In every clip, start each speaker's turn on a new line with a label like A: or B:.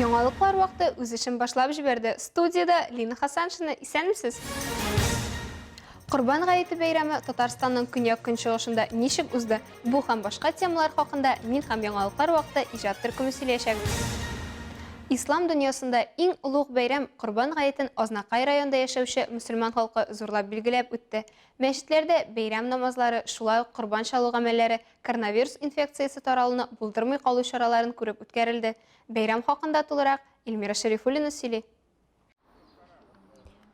A: Яңалыклар вакыты үз эшен башлап җибәрде. Студиядә Лина Хасаншина, исәнмесез? Корбан гаете бәйрәме Татарстанның көньяк-көнчыгышында ничек узды? Бу һәм башка темалар хакында мин һәм яңалыклар вакыты иҗат төркеме сөйләячәк. Ислам дөньясында иң олуг бәйрәм Корбан гаетен Азнакай районында яшәүче мөселман халкы зурлап билгеләп үтте. Мәчетләрдә бәйрәм намазлары, шулай ук корбан чалу гамәлләре коронавирус инфекциясе таралуны булдырмый калу чараларын күреп үткәрелде. Бәйрәм хакында тулырак Эльмира Шәрифуллина сөйли.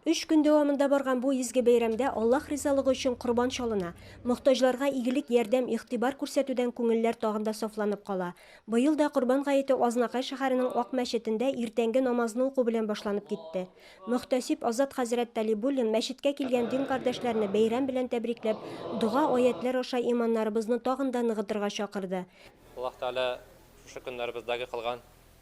B: Өч көн дәвамында барган бу изге бәйрәмдә Аллаһ ризалыгы өчен корбан чалына. Мохтаҗларга игелек, ярдәм, игътибар күрсәтүдән күңелләр тагын да сафланып кала. Быел да Корбан гаете Азнакай шәһәренең Ак мәчетендә иртәнге намазны уку белән башланып китте. Мөхтәсиб Азат хәзрәт Талибуллин мәчеткә килгән дин кардәшләрне бәйрәм белән тәбрикләп, дога, аятьләр аша иманнарыбызны тагын да ныгытырга чакырды. Аллаһ Тәгалә
C: шушы көннәребездәге кылган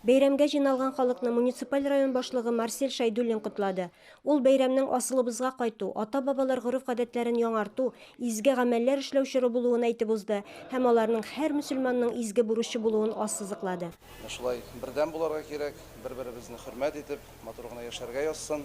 C: Бәйрәмгә җыйналган
B: халыкны муниципаль район башлыгы Марсель Шәйдуллин котлады. Ул бәйрәмнең асылыбызга кайту, ата-бабалар гореф-гадәтләрен яңарту, изге гамәлләр эшләү чоры булуын әйтеп узды һәм аларның һәр мөселманның изге бурычы булуын ассызыклады. Менә шулай бердәм
D: булырга кирәк, бер-беребезне хөрмәт итеп, матур гына яшәргә язсын.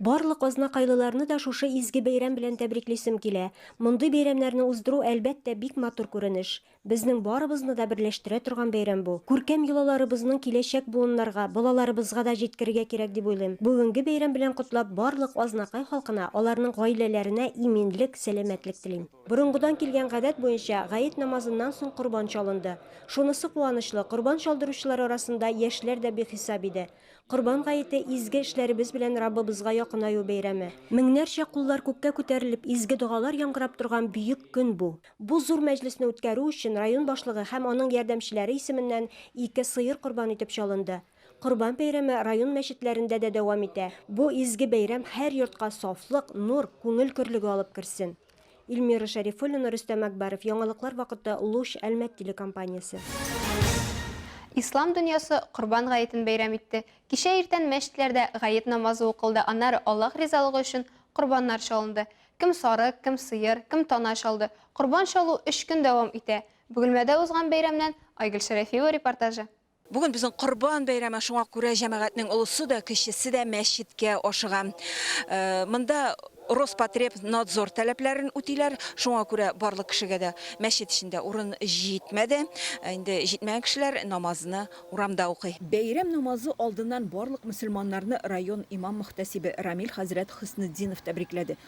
E: Барлык
B: азнакайлыларны да шушы изге бәйрәм белән тәбриклисем килә. Мондый бәйрәмнәрне уздыру, әлбәттә, бик матур күренеш. Безнең барыбызны да берләштерә торган бәйрәм бу. Күркәм йолаларыбызның киләчәк буыннарга, балаларыбызга да җиткерергә кирәк дип уйлыйм. Бүгенге бәйрәм белән котлап, барлык Азнакай халкына, аларның гаиләләренә иминлек, сәламәтлек телим. Борынгыдан килгән гадәт буенча, гает намазыннан соң корбан чалынды. Шунысы куанычлы, корбан чалдыручылар арасында яшьләр дә бихисап иде. Корбан гаете, изге эшләребез белән Раббыбызга якынаю бәйрәме. Меңнәрчә куллар күккә күтәрелеп, изге догалар яңгырап торган бөек көн бу. Бу зур мәҗлесне үткәрү өчен район башлыгы һәм аның ярдәмчеләре исеменнән ике сыер корбан итеп чалынды. Корбан бәйрәме район мәчетләрендә дә дәвам итә. Бу изге бәйрәм һәр йортка сафлык, нур, күңел көрлеге алып керсен! Ильмира Шәрифуллина, Рөстәм Әкбәров. Яңалыклар вакыты Луч Әлмәт телекомпаниясе.
A: Ислам дөньясы Корбан гаетен бәйрәм итте. Кичә иртән мәчетләрдә гает намазы укылды, аннары Аллаһ ризалыгы өчен корбаннар чалынды. Кем сарык, кем сыер, кем тана чалды. Корбан чалу өч көн дәвам итә. Бөгелмәдә узган бәйрәмнән Айгөл Шәрәфиева репортажы. Бүген безнең
F: Корбан бәйрәме, шуңа күрә җәмәгатьнең олысы да, кечесе дә мәчеткә ашыга. Монда Роспотребнадзор таләпләрен үтиләр, шуңа күрә барлык кешегә дә мәчет эчендә урын җитмәде. Инде җитмәгән кешеләр намазны урамда укый. Бәйрәм намазы алдыннан барлык мөселманнарны район имам-мөхтәсибе Рамил хәзрәт Хөснетдинов тәбрикләде.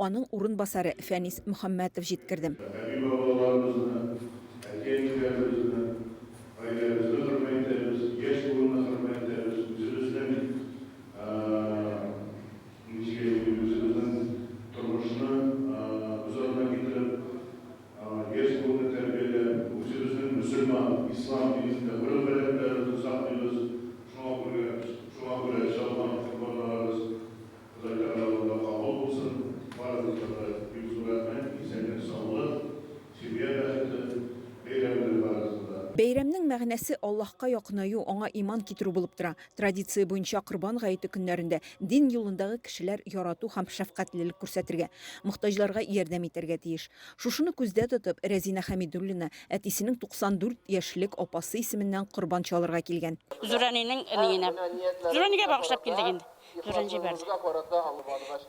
F: Аның урынбасары Фәнис Мөхәммәтов җиткерде. Әти-бабаларыбызны, әти-әниләребезне, гаиләбезне хөрмәт итәбез, яшь буынны хөрмәт итәбез, үзебезнең, ничек әйтим, үзебезнең тормышны күз алдына китереп, яшь буынны тәрбияләп, үзебезнең мөселман, ислам динендә гореф-гадәтләребезне саклыйбыз, шуңа күрә, шуңа күрә чалган корбаннарыбыз Ходай канәгатьләнүдә кабул булсын барыгызга да бик зур рәхмәт, исәнлек саулык, семья бәхете, бәйрәм белән барыгызны да. Бәйрәмнең мәгънәсе Аллаһка якынаю, аңа иман китерү булып тора. Традиция буенча Корбан гаете көннәрендә дин юлындагы кешеләр ярату һәм шәфкатьлелек күрсәтергә, мохтаҗларга ярдәм итәргә тиеш. Шушыны күздә тотып, Рәзинә Хәмидуллина әтисенең 94 яшьлек апасы исеменнән корбан чалырга килгән. Зурәнинең әниенә.
G: Зурәнигә багышлап килдек инде. Зурын җибәрде.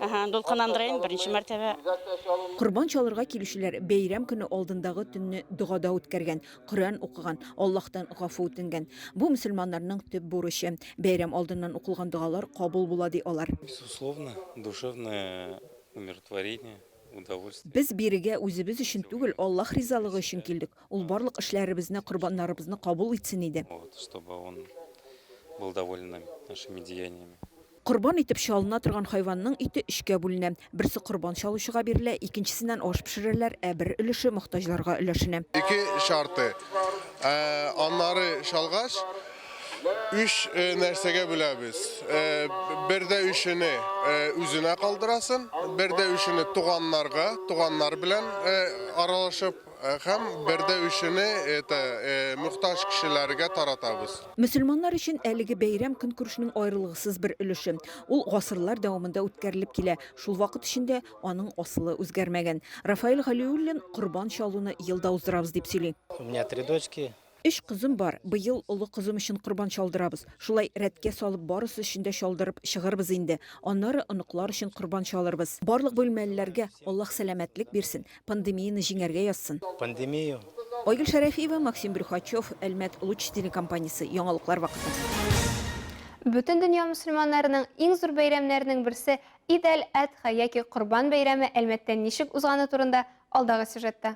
G: Әһә, дулкынландырыйм, беренче мәртәбә. Корбан
F: чалырга килүчеләр бәйрәм көне алдындагы төнне догада үткәргән, Коръән укыган, Аллаһтан гафу үтенгән. Бу мөселманнарның төп бурычы. Бәйрәм алдыннан укылган догалар кабул була, ди алар. Безусловно,
H: душевное умиротворение. Без бирегә
F: үзебез өчен түгел, Аллаһ ризалыгы өчен килдек. Ул барлык эшләребезне, корбаннарыбызны кабул итсен иде.
H: Корбан итеп
F: чалына торган хайванның ите өчкә бүленә. Берсе корбан чалучыга бирелә, икенчесеннән аш пешерәләр, ә бер өлеше мохтаҗларга өләшенә. Ике чарты.
E: Ә аннары чалгач, Үч нәрсәгә бүләбез? Бер дә үчене үзенә калдырасын, бер дә үчене туганнарга, туганнар белән аралашып һәм бер дә үчене это мөхтаҗ кешеләргә таратабыз. Мөселманнар өчен
F: әлеге бәйрәм көнкүрешнең аерылгысыз бер өлеше. Ул гасырлар дәвамында үткәрелеп килә, шул вакыт эчендә аның асылы үзгәрмәгән. Рафаэль Галиуллин Корбан чалуны елда уздырабыз дип сөйли. У меня три дочки,
I: Өч кызым бар,
F: быел олы кызым өчен корбан чалдырабыз. Шулай рәткә салып барысы өчен дә чалдырып чыгырбыз инде. Аннары оныклар өчен корбан чалырбыз. Барлык бүлмәлеләргә Аллаһ сәламәтлек бирсен, пандемияне җиңәргә язсын. Пандемия.
I: Айгөл Шәрәфиева,
F: Максим Брюхачев, Әлмәт Луч телекомпаниясе, яңалыклар вакыты.
A: Бөтендөнья мөселманнарының иң зур бәйрәмнәренең берсе Ид әл-Әдха яки Корбан бәйрәме Әлмәттә ничек узганы турында алдагы сюжетта.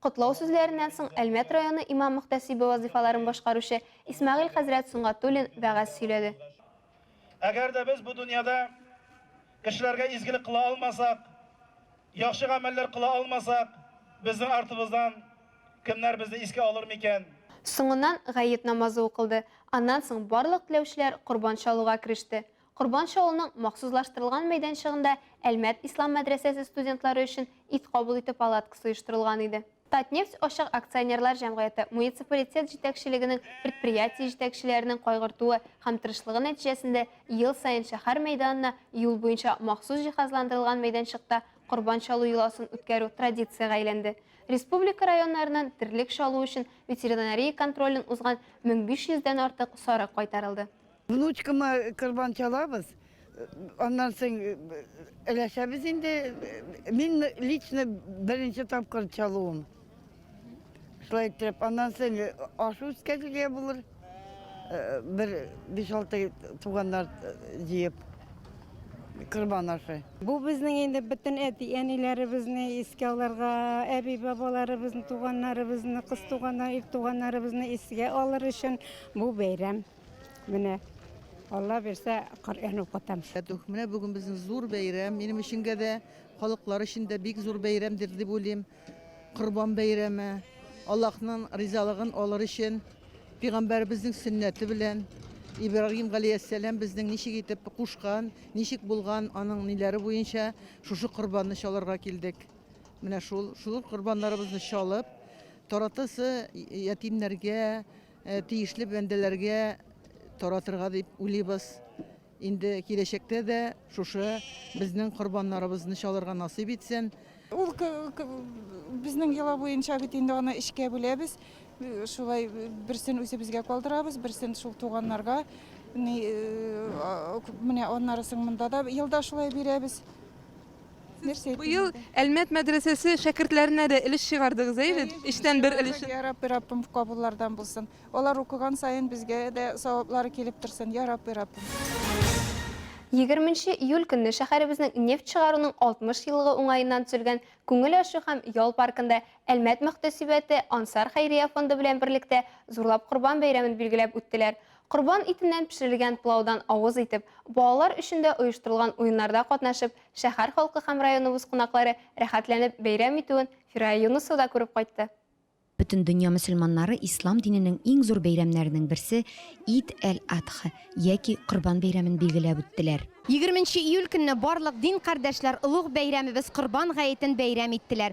J: Котлау
A: сүзләреннән соң Әлмәт районы имам-мөхтәсибе вазыйфаларын башкаручы Исмәгыйль хәзрәт Сөнгатуллин вәгазь сөйләде. Әгәр
K: дә без бу дөньяда кешеләргә изгелек кыла алмасак, яхшы гамәлләр кыла алмасак, безнең артыбыздан кемнәр безне искә алыр микән? Соңыннан
A: гает намазы укылды, аннан соң барлык теләүчеләр корбан чалуга кереште. Корбанчы авылының махсуслаштырылган мәйданчыгында Әлмәт ислам мәдрәсәсе студентлары өчен ит кабул итү палаткасы оештырылган иде. Татнефть ачык акционерлар җәмгыяте муниципалитет җитәкчелегенең предприятие җитәкчеләренең кайгыртуы һәм тырышлыгы нәтиҗәсендә ел саен шәһәр мәйданына юл буенча махсус җиһазландырылган мәйданчыкта корбан чалу йоласын үткәрү традициягә әйләнде. Республика районнарыннан терлек чалу өчен ветеринария контролен узган 1500 дән артык сарык кайтарылды. Внучкама
L: корбан чалабыз, аннан соң өләшәбез инде. Мин лично беренче тапкыр чалуым. Шулай итеп, аннан соң ашу үткәрергә булыр. Э, бер 5-6 туганнар э, җыеп корбан ашы. Бу безнең инде
M: бөтен әти-әниләребезне искә алырга, әби-бабаларыбызны, туганнарыбызны, кыз туганнар, ир туганнарыбызны искә алыр өчен бу бәйрәм. Менә Алла бирсә, Коръән укытам. Рәтүх, менә бүген безнең
N: зур бәйрәм. Минем өченгә дә, халыклар өчен дә бик зур бәйрәмдер дип уйлыйм. Корбан бәйрәме. Аллаһның ризалыгын алыр өчен пигамбәребезнең сөннәте белән Ибрагим галәйһиссәлам безнең ничек итеп кушкан, ничек булган аның ниләре буенча шушы корбанны чалырга килдек. Менә шул шул корбаннарыбызны чалып, таратасы ятимнәргә, Тиешле бәндәләргә таратырга дип уйлыйбыз. Инде киләчәктә дә шушы безнең корбаннарыбызны чалырга насыйп итсен. Ул
O: безнең йола буенча бит инде аны эчкә бүләбез. Шулай берсен үзебезгә калдырабыз, берсен шул туганнарга. Менә аннарысын монда да елда шулай бирәбез. Нәрсә
I: Быел Әлмәт мәдрәсәсе шәкертләренә дә өлеш чыгардыгыз, әй бит? Эчтән бер өлеш. Я Рабби, Раббым
O: кабуллардан булсын. Алар укыган саен безгә дә саваплары килеп торсын, я Рабби, Раббым. Егерменче
A: июль көнне шәһәребезнең нефть чыгаруның 60 еллыгы уңаеннан төзелгән Күңел ачу һәм ял паркында Әлмәт мөхтәсибәте Ансар хәйрия фонды белән берлектә Зурлап корбан бәйрәмен билгеләп үттеләр. Корбан итеннән пешерелгән пылаудан авыз итеп, балалар өчен дә оештырылган уеннарда катнашып, шәһәр халкы һәм районыбыз кунаклары рәхәтләнеп бәйрәм итүен Фирая Юнысова да күреп кайтты. Бөтендөнья
B: мөселманнары ислам диненең иң зур бәйрәмнәренең берсе Ид әл-Адхъ, яки Корбан бәйрәмен билгеләп үттеләр. Егерменче июль
P: көнне барлык дин кардәшләр олуг бәйрәмебез Корбан гаетен бәйрәм иттеләр.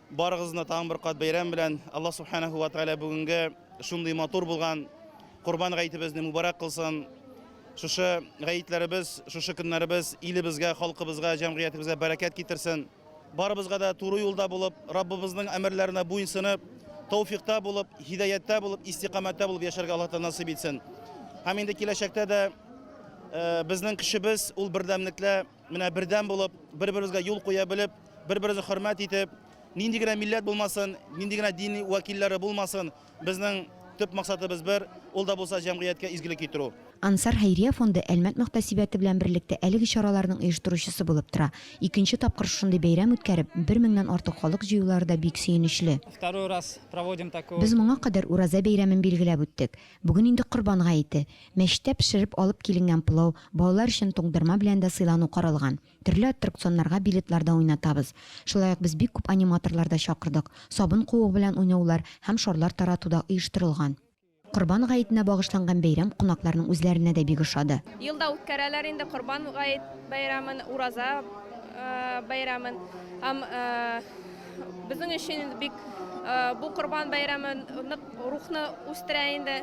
B: Барыгызны тагын
K: бер кат бәйрәм белән, Аллаһ Субханәһү вә Тәгалә бүгенге шундый матур булган Корбан гаетебезне мубарәк кылсын. Шушы гаетләребез, шушы көннәребез илебезгә, халкыбызга, җәмгыятебезгә бәрәкәт китерсен. Барыбызга да туры юлда булып, Раббыбызның әмерләренә буенсынып, тәүфикъта булып, һидаяттә булып, истикамәттә булып яшәргә Аллаһ Тәгалә насыйп итсен. Һәм инде киләчәктә дә безнең көчебез ул бердәмлектә. Менә бердәм булып, бер-беребезгә юл куя белеп, бер-беребезне хөрмәт итеп, нинди генә милләт булмасын, нинди генә дин вәкилләре булмасын, безнең төп максатыбыз бер, ул да булса җәмгыятькә изгелек китерү. Ансар хәйрия
B: фонды Әлмәт мөхтәсибәте белән берлектә әлеге чараларның оештыручысы булып тора. Икенче тапкыр шушындый бәйрәм үткәреп, бер меңнән артык халык җыюлары да бик сөенечле. Без моңа кадәр Ураза бәйрәмен билгеләп үттек. Бүген инде Корбан гаете. Мәчеттә пешереп алып киленгән пылау, балалар өчен туңдырма белән дә сыйлану каралган. Төрле аттракционнарга билетлар да уйнатабыз. Шулай ук без бик күп аниматорлар да чакырдык. Сабын куыгы белән уйнаулар һәм шарлар тарату да оештырылган. Корбан гаетенә багышланган бәйрәм кунакларның үзләренә дә бик ошады. Елда үткәрәләр
Q: инде Корбан гает бәйрәмен, Ураза бәйрәмен һәм. Безнең өчен инде бик э, бу Корбан бәйрәме нык рухны үстерә инде,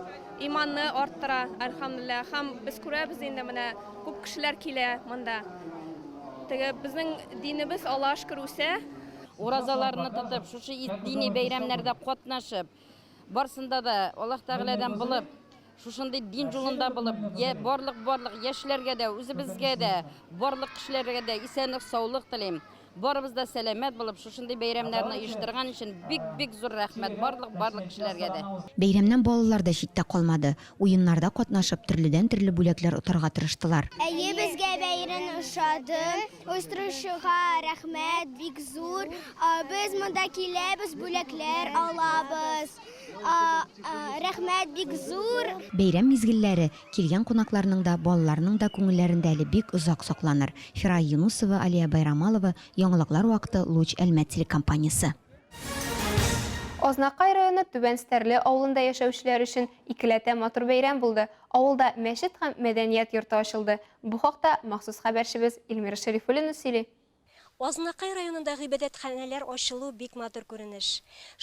Q: иманны арттыра, әлхәмдулилла. Һәм без күрәбез инде менә күп кешеләр килә монда. Теге безнең динебез Аллаһ шөкер үсә. Уразаларны
G: тотып, шушы дини бәйрәмнәрдә катнашып, барсында да Аллаһ Тәгаләдән булып, Шушындый дин юлында булып, я барлык барлык яшьләргә дә, үзебезгә дә, барлык кешеләргә дә исәнлек, саулык телим. Барыбыз да сәламәт булып, шушындый бәйрәмнәрне оештырган өчен бик-бик зур рәхмәт барлык барлык кешеләргә дә. Бәйрәмнән балалар
B: да читтә калмады, уеннарда катнашып, төрледән-төрле бүләкләр отарга тырыштылар. Әйе, безгә
R: бәйрен ошады. Оештыручыга рәхмәт бик зур. Без монда киләбез, бүләкләр алабыз. Рәхмәт бик зур! Бәйрәм мизгелләре
B: килгән кунакларның да, балаларның да күңелләрендә әле бик озак сакланыр. Фирая Юнусова, Алия Байрамалова, Яңалыклар вакыты, Луч Әлмәт телекомпаниясе.
A: Азнакай районы Түбән Стәрле авылында яшәүчеләр өчен икеләтә матур бәйрәм булды, авылда мәчет һәм мәдәният йорты ачылды. Бу хакта махсус хәбәрчебез Ильмира Шәрифуллина сөйли. Азнакай
S: районында гыйбадәтханәләр ачылу бик матур күренеш.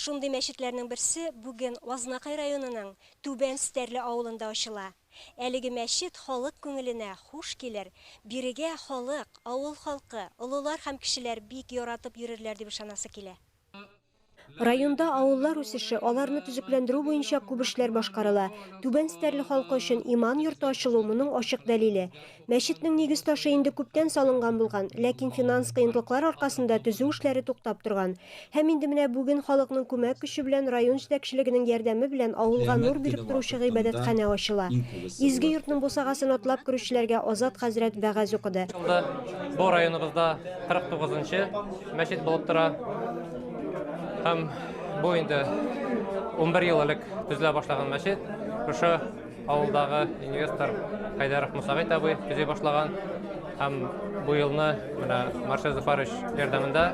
S: Шундый мәчетләрнең берсе бүген Азнакай районының Түбән Стәрле авылында ачыла. Әлеге мәчет халык күңеленә хуш килер, бирегә халык, авыл халкы, олылар һәм кешеләр бик яратып йөрерләр дип ышанасы килә.
B: Районда авыллар үсеше, аларны төзекләндерү буенча күп эшләр башкарыла. Түбән Стәрле халкы өчен иман йорты ачылу, моның ачык дәлиле. Мәчетнең нигез ташы инде күптән салынган булган, ләкин финанс кыенлыклар аркасында төзү эшләре туктап торган. Һәм инде менә бүген халыкның күмәк көче белән, район җитәкчелегенең ярдәме белән авылга нур биреп торучы гыйбадәтханә ачыла. Изге йортның бусагасын атлап керүчеләргә Азат хәзрәт вәгазь укыды. Бу
C: районыбызда 49 нчы. Мәчет булып тора. Һәм бу инде 11 ел элек төзелә башлаган мәчет. Шушы авылдагы инвестор Хайдаров Мусагыйт абый төзи башлаган. Һәм бу елны менә Маршал Зафарович ярдәмендә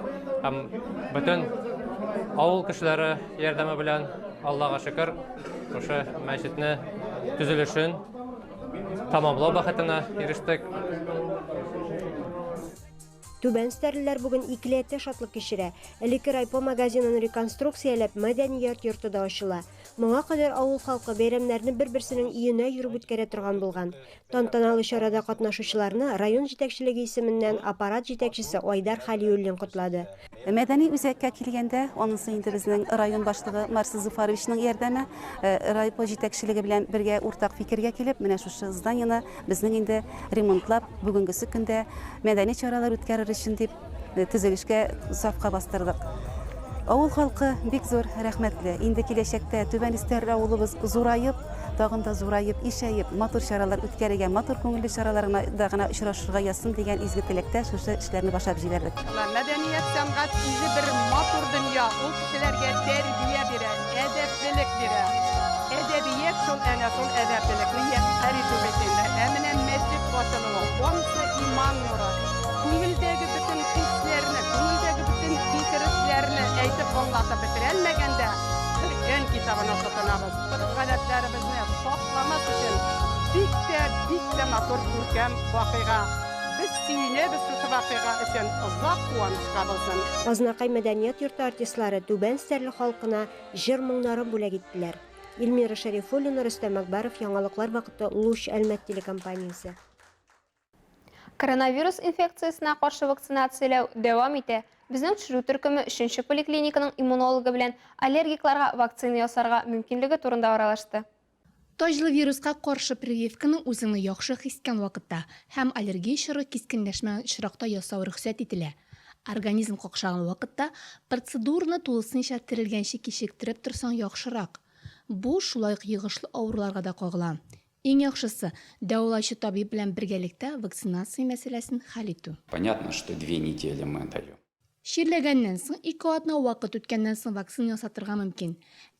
C: һәм бөтен авыл кешеләре ярдәме белән Аллага шөкер, шушы мәчетне төзелешен тамамлау бәхетенә ирештек.
B: Түбән стәрлеләр бүген икеләтә шатлык кичерә. Элекке райпо магазинын реконструкцияләп, мәдәният йорты да ачыла. Моңа кадәр авыл халкы бәйрәмнәрне бер-берсенең өенә йөреп үткәрә торган булган. Тантаналы чарада катнашучыларны район җитәкчелеге исеменнән аппарат җитәкчесе Айдар Хәлиуллин котлады. Мәдәни үзәккә
D: килгәндә, анысы инде безнең район башлыгы Марс Зуфаровичның ярдәме, э, райпо җитәкчелеге белән бергә уртак фикергә килеп, менә шушы зданиене безнең инде ремонтлап, бүгенгесе көндә мәдәни чаралар үткәрер өчен дип э, төзелешкә сафка бастырдык. Авыл халкы бик зур рәхмәтле. Инде киләчәктә Түбән Истәр авылыбыз зураеп, тагын да зураеп, ишәеп, матур чаралар үткәрергә, матур күңелле чараларда гына очрашырга язсын дигән изге теләктә шушы эшләрне башлап җибәрдек. Мәдәният, сәнгать
T: үзе бер матур дөнья, ул кешеләргә тәрбия бирә, әдәплелек бирә. Әдәбият шул әнә шул әдәплелекне яшьләр итү бетендә. Ә менә мәчет ачылуы, ансы иман нуры, күңелдәге бөтен хисләрне, күңелдәге бөтен фикер-эшләрне әйтеп аңлатып бетерәлмәгәндә, Коръән китабына тотынабыз. Гореф-гадәтләребезне сакламас өчен бик тә, бик тә матур, күркәм вакыйга. Без сөенәбез шушы вакыйга өчен, озак куанычка булсын! Азнакай мәдәният
B: йорты артистлары Түбән Стәрле халкына җыр-моңнарын бүләк иттеләр. Ильмира Шәрифуллина, Рөстәм Әкбәров, Яңалыклар вакыты, Луч, Әлмәт телекомпаниясе.
A: Коронавирус инфекциясенә каршы вакцинацияләү дәвам итә. Безнең төшерү төркеме өченче поликлиниканың иммунологы белән аллергикларга вакцина ясарга мөмкинлеге турында аралашты. Таҗлы
U: вируска каршы прививканы үзеңне яхшы хис иткән вакытта һәм аллергия чоры кискенләшмәгән очракта ясау рөхсәт ителә. Организм какшаган вакытта процедураны тулысынча терелгәнче кичектереп торсаң яхшырак. Бу шулай ук йогышлы авыруларга да кагыла. Иң яхшысы, дәвалаучы табиб белән бергәлектә вакцинация мәсьәләсен хәл итү. Понятно, что две
V: недели мы даем. Чирләгәннән
U: соң ике атна вакыт үткәннән соң вакцина ясатырга мөмкин.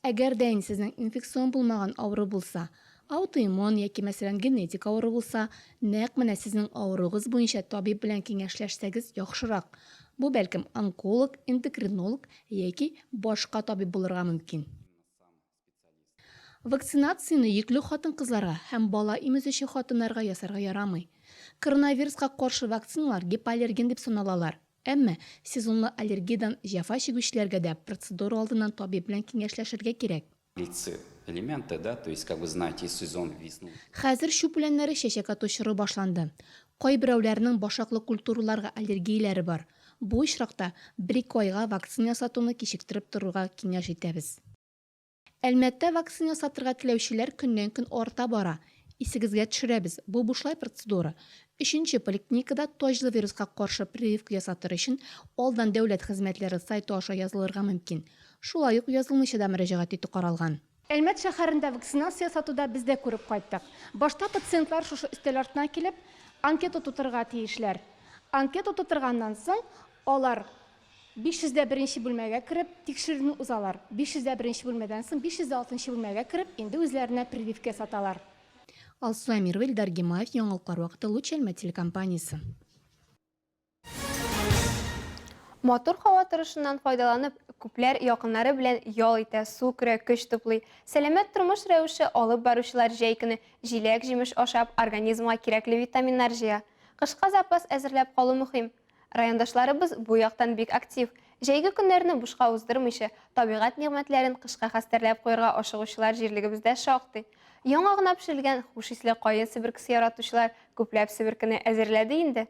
U: Әгәр дә инде сезнең инфекцион булмаган авыру булса, аутоиммун яки, мәсәлән, генетик авыру булса, нәкъ менә сезнең авыруыгыз буенча табиб белән киңәшләшсәгез яхшырак. Бу, бәлкем, онколог, эндокринолог яки башка табиб булырга мөмкин. Вакцинацияне йөкле хатын-кызларга һәм бала имезүче хатыннарга ясарга ярамый. Коронавируска каршы вакциналар гипоаллерген дип саналалар. Әмма сезонлы аллергиядән җәфа чигүчеләргә дә процедура алдыннан табиб белән киңәшләшергә кирәк.
V: Хәзер чүп үләннәре
U: чәчәк ату чоры башланды. Кайберәүләрнең башаклы культураларга аллергияләре бар. Бу очракта бер-ике айга вакцина ясатуны кичектереп торырга киңәш итәбез. Әлмәттә вакцина ясатырга теләүчеләр көннән-көн арта бара. Исегезгә төшерәбез, бу бушлай процедура. Өченче поликлиникада таҗлы вируска каршы прививка ясатыр өчен алдан Дәүләт хезмәтләре сайты аша язылырга мөмкин. Шулай ук язылмыйча да мөрәҗәгать итү каралган. Әлмәт шәһәрендә вакцинация ясату да без дә күреп кайттык. Башта пациентлар шушы өстәл артына килеп, анкета тутырырга тиешләр. Анкета тутырганнан соң, алар 501 нче бүлмәгә кереп, тикшерүне узалар. 501 нче бүлмәдән соң 506 нчы бүлмәгә кереп, инде үзләренә прививка ясаталар. Алсу Әмирова, Илдар Гимаев, Яңалыклар вакыты, Луч Әлмәт телекомпаниясе.
A: Матур һава торышыннан файдаланып, күпләр якыннары белән ял итә, су керә, көч туплый. Сәламәт тормыш рәвеше алып баручылар җәй көне җиләк-җимеш ашап, организмга кирәкле витаминнар җыя. Кышка запас әзерләп калу мөһим. Райондашларыбыз бу яктан бик актив. Җәйге көннәрне бушка уздырмыйча, табигать нигъмәтләрен кышка хәстәрләп куярга ашыгучылар җирлегебездә шактый. Яңа гына пешерелгән хуш исле каен себеркесе яратучылар күпләп себеркене әзерләде инде.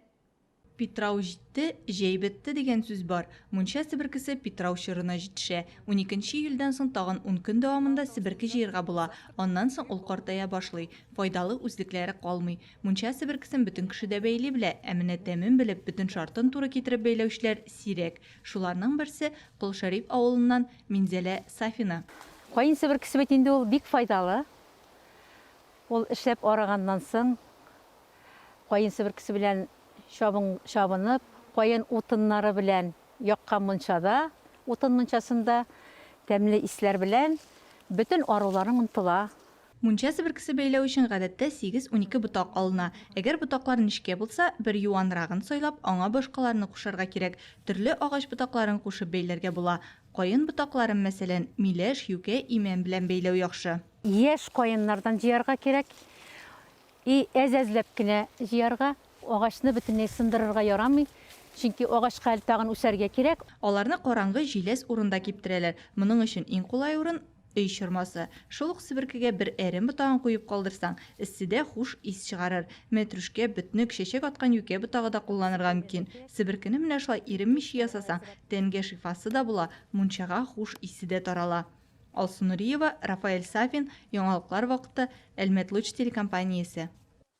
A: Питрау
W: җитте, җәй бетте дигән сүз бар. Мунча себеркесе питрау чорына җитешә. Уникенче июльдән соң тагын ун көн дәвамында себерке җыерга була, аннан соң ул картая башлый, файдалы үзлекләре калмый. Мунча себеркесен бөтен кеше дә бәйли белә, ә менә тәмен белеп, бөтен шартын туры китереп бәйләүчеләр сирәк. Шуларның берсе, Кол Шәриф авылыннан Минзәлә Сафина. Каен себеркесе
X: бит инде ул бик файдалы. Ул эшләп арыганнан соң, каен себеркесе белән чабын чабынып, каен утыннары белән яккан мунчада, утын мунчасында тәмле исләр белән бөтен аруларың онтыла. Мунча себеркесе
W: бәйләү өчен гадәттә сигез-унике ботак алына. Әгәр ботаклар нечкә булса, бер юанрагын сайлап, аңа башкаларны кушарга кирәк. Төрле агач ботакларын кушып бәйләргә була. Каен ботакларын, мәсәлән, миләш, юкә, имән белән бәйләү яхшы. Яшь каеннардан
X: җыярга кирәк. И әз-әзләп кенә җыярга, агачны бөтенләй сындырырга ярамый, чөнки агачка әле тагын үсәргә кирәк. Аларны караңгы,
W: җиләс урында киптерәләр. Моның өчен иң кулай урын, Өй чормасы. Шул ук себеркегә бер әрем ботагын куеп калдырсаң, эсседә хуш ис чыгарыр. Мәтрүшкә, бөтнек, чәчәк аткан юкә ботагы да кулланырга мөмкин. Себеркене менә шулай иренмичә ясасаң, тәнгә шифасы да була, мунчага хуш исе дә тарала. Алсу Нуриева, Рафаэль Сафин, Яңалыклар вакыты, Әлмәтлуч телекомпаниясе.